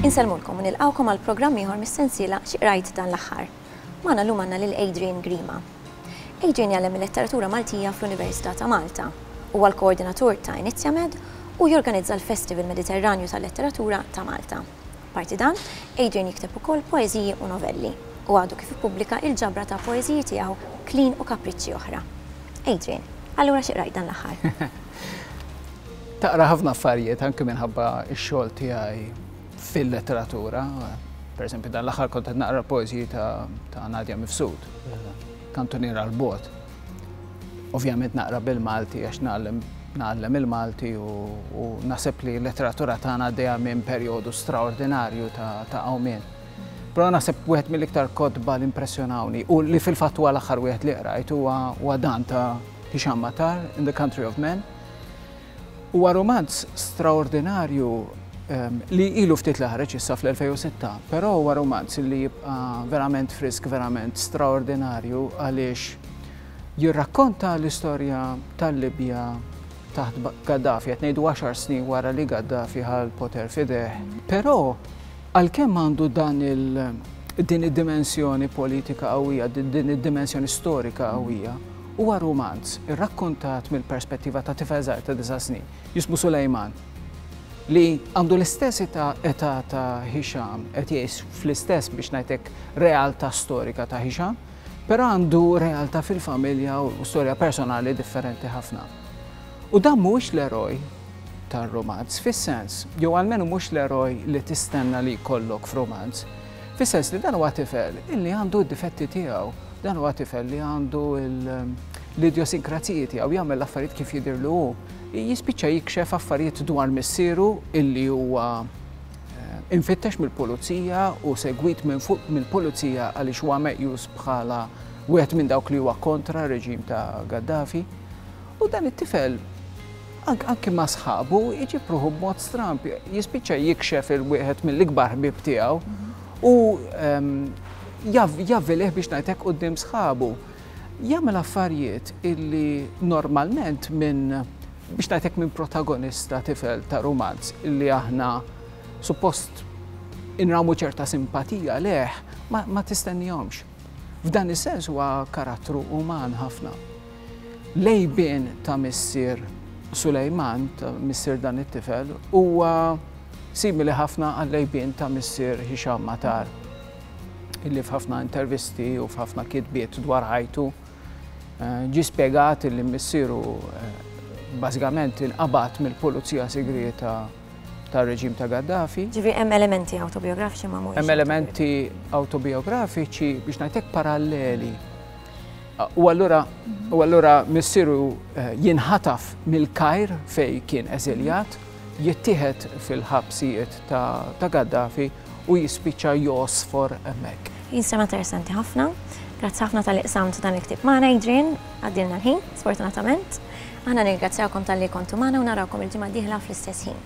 Insellmulkom u nilqgħukom għal programm ieħor mis-sensiela Xi Qrajt Dan l-Aħħar. Magħna llum għandna lil Adrian Grima. Adrian jgħallem il-Letteratura Maltija fl-Università ta' Malta. Huwa l-koordinatur ta' Inizjamed u jorganizza l-Festival Mediterranju tal-Letteratura ta' Malta. Apparti dan, Adrian jikteb ukoll poeżiji u novelli, u għadu kif ippubblika il-ġabra ta' poeżiji tiegħu Klin u Kapriċċi Oħra. Adrian, allura xi qrajt dan l-aħħar? Taqra ħafna affarijiet anke minħabba x-xogħol tiegħi fil-letteratura. Pereżempju, dan l-aħħar kont qed naqra l-poeżiji ta' Nadia Mifsud, Kantuniera 'l Bogħod. Ovvjament naqra bil-Malti għax nagħlem nagħallem il-Malti u, u nasib li l-letteratura tagħna għaddejja minn perjodu straordinarju ta' għawmien. Però nasib wieħed mill-iktar kotba li impressjonawni u li fil-fatt huwa l-aħħar wieħed li qrajt huwa dan ta' Hisham Matar in the Country of Men. Huwa rumanz straordinarju li ilu ftit li ħareġ issa fl-2006, però huwa rumanz li jibqa' verament frisk, verament straordinarju għaliex jirrakkonta l-istorja tal-Libja taħt Gaddafi, qed ngħidu għaxar snin wara li Gaddafi ħa l-poter f'idejh. Però għalkemm għandu dan il din id-dimensjoni politika qawwija, din id-dimensjoni storika qawwija, Huwa rumanz irrakkontat mill-perspettiva ta' tifel żgħir ta' disa' snin, jismu Sulejman, li għandu l-istess età età ta' Hisham, qed jgħix fl-istess biex ngħid hekk realtà storika ta' Hisham, però għandu realtà fil-familja u storja personali differenti ħafna. U dan mhuwiex l-eroj tar-rumanz fis-sens, jew almenu mhux l-eroj li tistenna li jkollok f'rumanz. Fis-sens li dan huwa tifel illi għandu d-difetti tiegħu, dan huwa tifel li għandu l-idjosinkrazziji tiegħu jagħmel l-affarijiet kif jidhirlu hu. Jispiċċa jikxef affarijiet dwar missieru illi huwa eh, infittex mill-pulizija u segwit minn fuq mill-pulizija għaliex huwa meqjus bħala wieħed minn dawk li huwa kontra reġim ta' Gaddafi. U dan it-tifel Anki ma' sħabu jġib ruħu b'mod stramb, jispiċċa jikxef il-wieħed mill-ikbar ħbieb tiegħu u ehm, javvilih biex ngħidlek quddiem sħabu. Jagħmel affarijiet illi normalment minn biex ngħidlek minn protagonista tifel ta' rumanz illi aħna suppost inramu ċerta simpatija leħ ma tistennihomx. F'dan is-sens huwa karattru uman ħafna. L-għejbien ta' missier Sulejman, ta' missier dan it-tifel, huwa simili ħafna għall-għejbien ta' missier Hisham Matar, illi f'ħafna intervisti u f'ħafna kitbiet dwar ħajtu ġie spjegat illi missieru bażikament inqabad mill-pulizija sigrieta tar-reġim ta' Gaddafi. Ġifieri hemm elementi awtobijografiċi ma mhumiex. Hemm elementi awtobijografiċi biex ngħidlek paralleli. U allura u allura missieru eh, jinħataf mill-Kajr fej kien eżiljat, jittieħed fil-ħabsijiet ta' Gaddafi u jispiċċa josfor hemmhekk. Jinsema interessanti ħafna. Grazzi ħafna tal-iqsam ta' dan il-ktib magħna Adrian, għaddilna l-ħin, sfortunatament. Aħna nirgrazzjawkom tal-li kontu magħna u narawkom il-ġimgħa diħla fl-istess ħin.